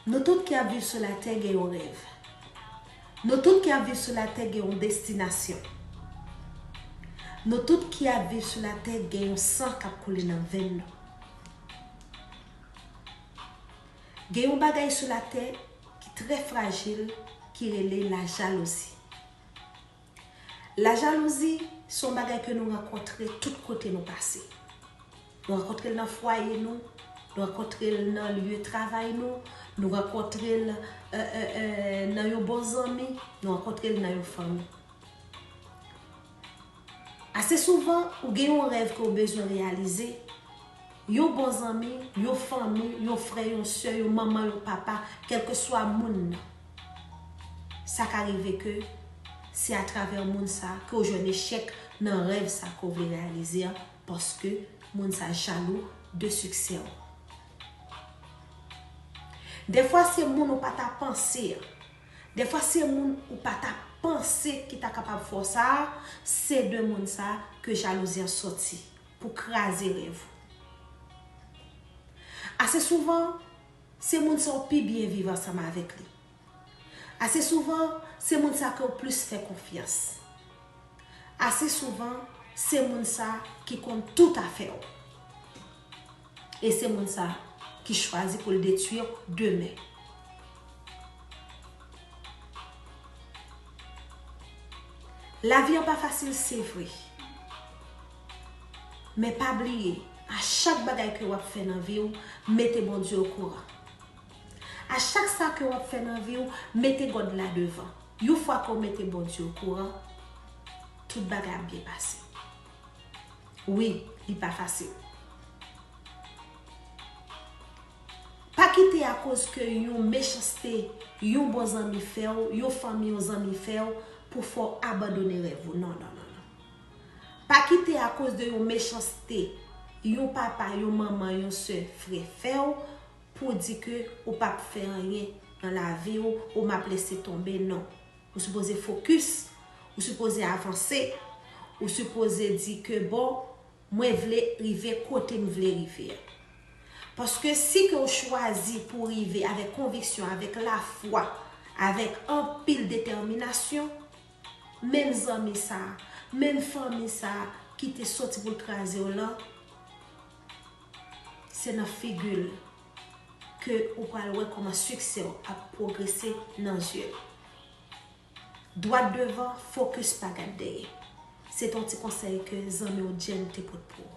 Nou tout ki ap viv sou latè gen yon rèv. Nou tout ki ap viv sou latè gen yon destinasyon. Nou tout ki ap viv sou latè gen yon san k ap koule nan venn nou. Gen yon bagay sou latè ki trè frajil ki rele lajalouzi. Lajalouzi se yon bagay ke nou rankontre tout kote nou pase. Nou rankontre l nan fwaye nou, nou rankontre l nan lye travay nou, nou rankontre l nan yon bon zanmi, nou rankontre l nan yon fanmi. Ase souvan, ou gen yon rèv ke ou bezwen reyalize, Yon bon zanmi, yon fanmi, yon frè, yon sè, yon manman, yon papa, kèlkeswa moun nan. Sa ka rive ke se atravè moun sa a ke w jwenn echèk nan rèv sa a ke w vle reyalize a paske moun sa a jalou de siksè w. Dèfwa se moun ou pa ta panse a. Dèfwa se moun ou pa ta panse ki ta kapab fè w sa a, se de moun sa a ke jalouzi an soti. pou kraze rèv ou. Ase souvan, se moun sa ou pi byen viv ansanm avèk li. Ase souvan, se moun sa ke ou plis fè konfyans. Ase souvan, se moun sa ki konn tout afè ou. E se moun sa ki chwazi pou l detwi ou demen. Lavi an pa fasil se vre. Men pa bliye, a chak bagay ke wap fè nan viw, mete Bondye o kouran. A chak sa ke wap fè nan viw, mete God la devan. Yon fwa ke w mete Bondye o kouran, tout bagay ap byen pase. Wi, li pa fasil. Pa kite a koz ke yon mechanste yon bon zanmi fèw, yon fanmi, yon zanmi fèw pou fè w abandone rèv ou. Non, non, non, non. Pa kite akoz de yon mechanste yon papa, yon manman, yon sè, frè fè w pou w di ke ou pa p fè anyen nan lavi w, ou m ap lese tonbe non. Ou sipoze fokis, ou sipoze avanse, ou sipoze di ke bon mwen vle rive kote m vle rive a. Paske si ke w chwazi pou w rive avèk konviksyon, avèk lafwa, avèk anpil detèminasyon, menm zanmi sa, menm fanmi sa ki te soti pou l kraze w lan, se nan figi l ke ou pral wè kòman siksè w ap pwogrese nan zye l. Dwat devan, fokis pa gad dèyè. Se te yon ti konsèy ke zanmi w Jenn te pot pou ou.